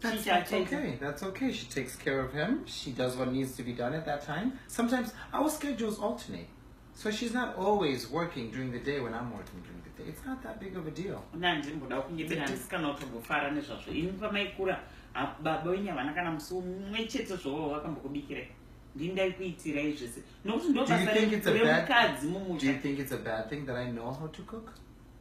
That's, that's okay. That's okay. She takes care of him. She does what needs to be done at that time. Sometimes our schedules alternate. So she's not always working during the day when I'm working during the day. It's not that big of a deal. baba wenyu havana kana musi umwe chete zvovo vakambokubikira ndindaikuitirai zvese nokuti ndobasa remukadzi mumudzi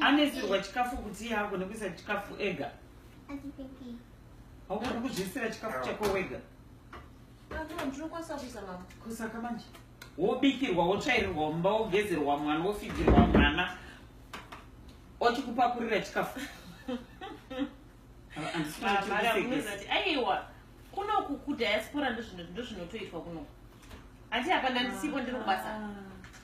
anesirwa chikafu kuti iye agone kuisa chikafu ega haugoni kuzviisira chikafu chako wega kusaka manje wobikirwa wotsvairirwa mumba wogezerwa mwana wofigirwa mwana ochikupakurira chikafu aiwa kunoku kudiaspora ndozvinotoitwa kunoku hati hapana ndisipo ndiri kubasa ah.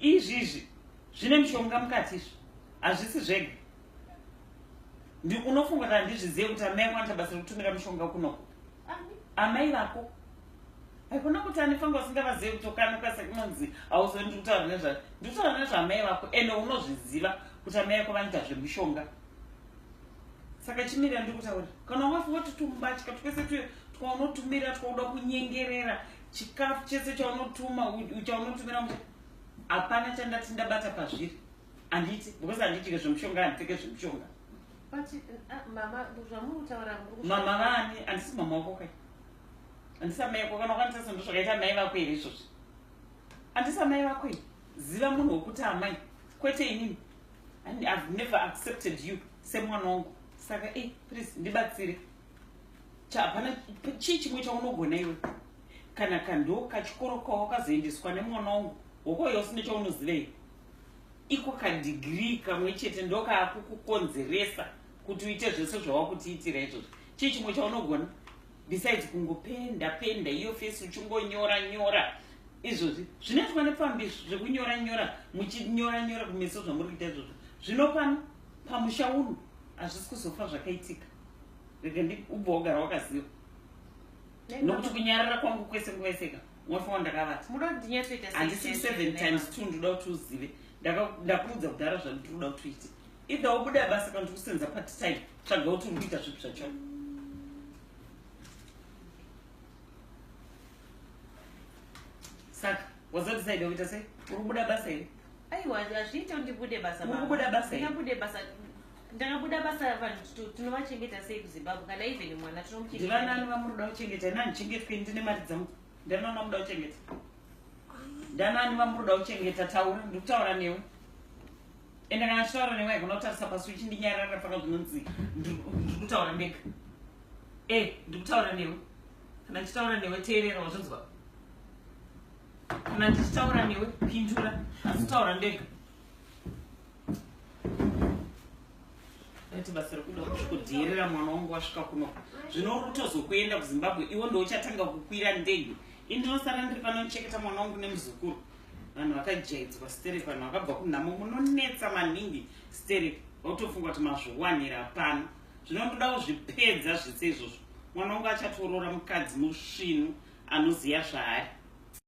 Izvizvi zvine mishonga mukati izvi hazvisi zvega ndi unofunga kana ndizvizive kuti amai ako anoita basa rekutumira mushonga kunoko amai vako haikona kuti anefanga usingavazive kuti ukanuka sekunonzi hauzive ndiri kutaura nezva ndiri kutaura nezvaamai vako ende unozviziva kuti amai ako vanoita zvemushonga saka chimirira ndiri kutaura kana wafi wati tumubatya twese tuye twaunotumira twauda kunyengerera chikafu chese chaunotuma chaunotumira mu hapana chandati ndabata pazviri handiti because handitike zvemushonga handipfeke zvemushonga uh, mama vani handisi mama wako kai handisi amai ako kana ukwanisa sendo zvakaita amai vako here izvozvi handisi amai vako i ziva munhu wekuti amai kwete inini and ihave never accepted you semwana wangu saka e please ndibatsire hapana chii chimwe chaunogona iwe kana kandoo kachikoro kawakazoendeswa nemwana wangu hoko yose nechaunozivei iko kadigrii kamwe chete ndokaakukukonzeresa kuti uite zvese zvawakutiitira izvozvo chii chimwe chaunogona besides kungopenda penda iyo fesi uchingonyora nyora izvozvi zvinoitwa nepfambi zvekunyora nyora muchinyora nyora kumeso zvamuri kuita izvozvo zvino pano pamusha uno hazvisi kuzofa zvakaitika rekendi ubva wagara wakaziva nokuti kunyarara kwangu kwese nguva yeseka mwafa wandakavata handisi seven times two ndoda kuti uzive ndakuudza kudhara zvandiri kuda kuti uite either wobuda basa kana ndiri kusenza part time tsvaga kuti uri kuita zvipi zvacho saka wazodecide wokuita sei uri kubuda basa here aiwa hazviite ndibude basa uri kubuda basa here ndakabuda basa ravanhu tinovachengeta sei kuzimbabwe kana even mwana tinomuchengetanani vamunoda kuchengeta ini handichengetwe ndine mari dzangu ndanani vamunoda kuchengeta ndanani vamunoda kuchengeta taura ndiri kutaura newe ende kana chitaura newe haigona kutarisa pasi uchindinyarara paka zvinonzi ndiri kutaura ndega e eh, ndiri kutaura newe kana ndichitaura newe teerera wazvinzwa kana ndichitaura newe pindura asi taura ndega ati basa rekuda kudheerera mwana wangu wasvika kuno zvino rutozokuenda kuzimbabwe iwo ndouchatanga kukwira ndege indinosara ndiri pano ndicheketa mwana wangu nemuzukuru vanhu vakajaidzwa sterek vanhu vakabva kunhamo munonetsa maningi sterek vautofunga kuti mazviwanira pano zvino ndoda kuzvipedza zvese izvozvo mwana wangu achatoroora mukadzi musvinu anoziva zvaari